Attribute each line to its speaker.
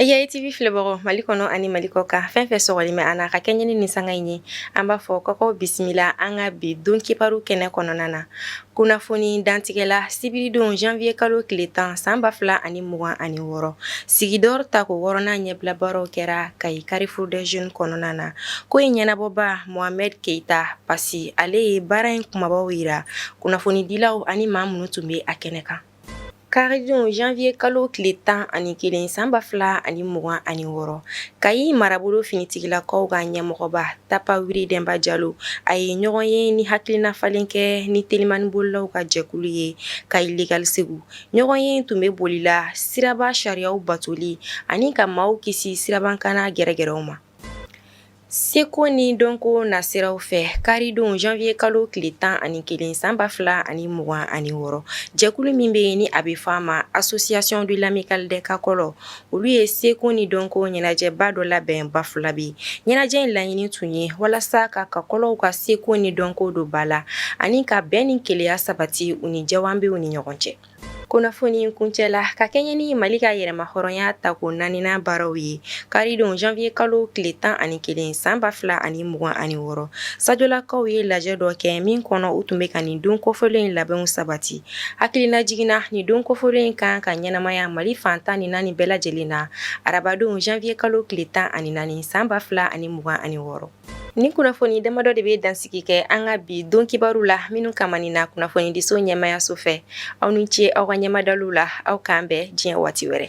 Speaker 1: E y'a TV filɛbagaw Mali kɔnɔ ani Mali kɔkan fɛn fɛn sɔgɔlen bɛ an na ka kɛɲɛ ni nin sanga in ye, an b'a fɔ k'aw k'aw bisimila an ka bi don kibaru kɛnɛ kɔnɔna na. Kunnafoni dantigɛ la sibiridon janvier kalo tile 10 san 2026, Sigidɔri tako 6 nan ɲɛbila baaraw kɛra kayi carrefour des jeunes kɔnɔna na. Ko in ɲɛnabɔba Mohamɛdi Keyita Pasi, ale ye baara in kumabaw jira kunnafonidilaw ani maa minnu tun bɛ a kɛnɛ kan. Karidon janvier kalo tile tan ani kelen san ba fila ani mugan ani wɔɔrɔ Kayi marabolo finitigilakaw ka ɲɛmɔgɔba Tapa Wuri Denba Jalo a ye ɲɔgɔnye ni hakilina falen kɛ ni telimanibolilaw ka jɛkulu ye Kayi Legal Segu. Ɲɔgɔnye in tun bɛ boli la siraba sariyaw batoli ani ka maaw kisi sirabakanna gɛrɛgɛrɛw ma. Seko ni dɔnko nasiraw fɛ karidon janvier kalo tile tan ani kelen san ba fila ani mugan ani wɔɔrɔ jɛkulu min bɛ yen ni a bɛ fɔ a ma association de l'amicale des Kakɔlɔ olu ye seko ni dɔnko ɲɛnajɛba dɔ labɛn Bafulabɛ ɲɛnajɛ in laɲini tun ye walasa ka Kakɔlɔw ka seko ni dɔnko don ba la ani ka bɛn ni kelenya sabati u ni Jawanbɛw ni ɲɔgɔn cɛ Kunnafoni kuncɛ la ka kɛɲɛ ni Mali ka yɛrɛmahɔrɔnya tako naaninan baaraw ye, karidon janvier kalo tile tan ani kelen san ba fila ani mugan ani wɔɔrɔ, Sajolakaw ye lajɛ dɔ kɛ min kɔnɔ u tun bɛ ka nin don kofɔlen in labɛnw sabati. Hakilinajigin na nin don kofɔlen in ka kan ka ɲɛnamaya Mali fan tan ni naani bɛɛ lajɛlen na arabadon janvier kalo tile tan ani naani san ba fila ani mugan ani wɔɔrɔ. Nin kunnafoni damadɔ de bɛ dansigi kɛ an ka bi don kibaru la minnu ka ni na kunnafonidiso ɲɛmaayaso fɛ aw ni ce aw ka ɲɛma dalu la aw k'an bɛn diɲɛ waati wɛrɛ